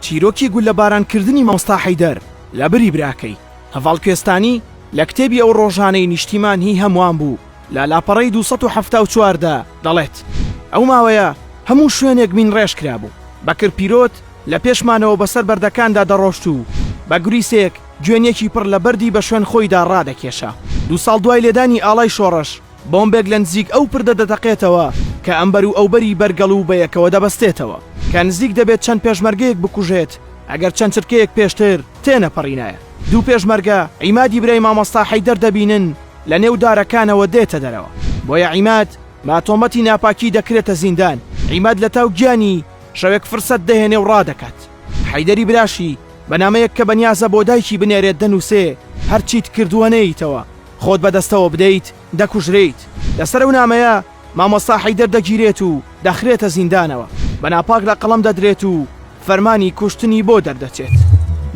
چیرۆکی گوللەبارانکردنی مامۆستا حەیدەر لە بری براکەی، هەڤاڵ کوێستانی، لە کتێبی ئەو ڕۆژانەی نیشتیمان هی هەموان بوو لە لاپەڕەی دوو سەد و حەفتا و چوار دا دەڵێت، ئەو ماوەیە هەموو شوێنێک مینڕێژ کرابوو، بەکر پیرۆت لە پێشمانەوە بەسەر بەردەکاندا دەڕۆشت و بە گوریسێک گوێنیەکی پڕ لە بەردی بە شوێن خۆیدا ڕادەکێشا. دوو ساڵ دوای لێدانی ئاڵای شۆڕش، بۆمبێک لە نزیک ئەو پردە دەتەقێتەوە کە ئەمبەر و ئەوبەری بەرگەڵ و بەیەکەوە دەبەستێتەوە. کە نزیک دەبێت چەند پێشمەرگەیەک بکوژێت، ئەگەر چەند چرکەیەک پێشتر تێنەپەڕینایە. دوو پێشمەرگە عیمادی برای مامۆستا حەیدەر دەبینن لە نێو دارەکانەوە دێتە دەرەوە. بۆیە عیماد بە تۆمەتی ناپاکی دەکرێتە زیندان. عیماد لە تاو گیانی شەوێک فرسەت دەهێنێ و ڕادەکات. حەیدەری براشی بە نامەیەک کە بەنیازە بۆ دایکی بنێرێت دەنووسێ، هەرچیت کردووە نەیەیتەوە. خۆت بە دەستەوە بدەیت دەکوژرێیت. لەسەر ئەو نامەیە مامۆستا حەیدەر دەگیرێت و دەخرێتە زیندانەوە، بە ناپاک لە قەڵەم دەدرێت و فەرمانی کوشتنی بۆ دەردەچێت.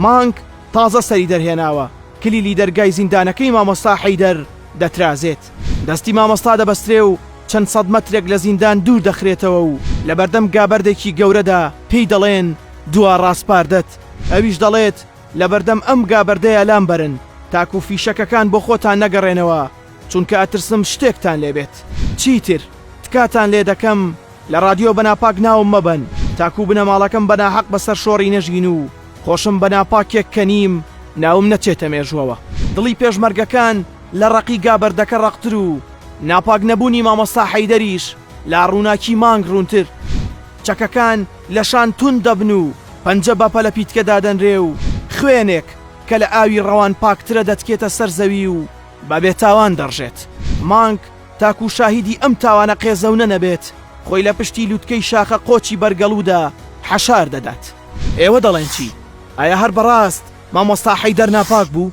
مانگ تازە سەری دەرهێناوە، کلیلی دەرگای زیندانەکەی مامۆستا حەیدەر دەترازێت. دەستی مامۆستا دەبەسترێ و چەند سەد مەترێک لە زیندان دوور دەخرێتەوە و لەبەردەم گابەردێکی گەورەدا پێی دەڵێن، دوا ڕاسپاردەت. ئەویش دەڵێت. لەبەردەم ئەم گا بەردەیە لام بەرن تاکو فیشەکەکان بۆ خۆتان نەگەڕێنەوە چونکە ئەترسم شتێکتان لێ بێت. چیتر تکاتان لێ دەکەم لە ڕادیۆ بە ناپاک ناوم مەبەن تاکو بنەماڵەکەم بە ناحەق بە سەر شۆڕی نەژین و خۆشم بە ناپاکێک کە نیم ناوم نەچێتە مێژووەوە. دڵی پێشمەرگەکان لە ڕەقی گا بەردەکە ڕەقتر و ناپاک نەبوونی مامۆستا حەیدەریش لا ڕووناکی مانگ ڕوونتر. چەکەکان لە شان توند دەبن و. پەنجە بە پەلەپیتکە دادەنرێ و خوێنێک کە لە ئاوی ڕەوان پاکترە دەتکێتە سەر زەوی و بە بێتاوان دەڕژێت. مانگ تاکوو شاهیدی ئەم تاوانە قێزەونە نەبێت، خۆی لە پشتی لووتکەی شاخە قۆچی بەرگەڵوودا حەشار دەدات. ئێوە دەڵێن چی؟ ئایا هەر بەڕاست مامۆستا حەیدەر ناپاک بوو؟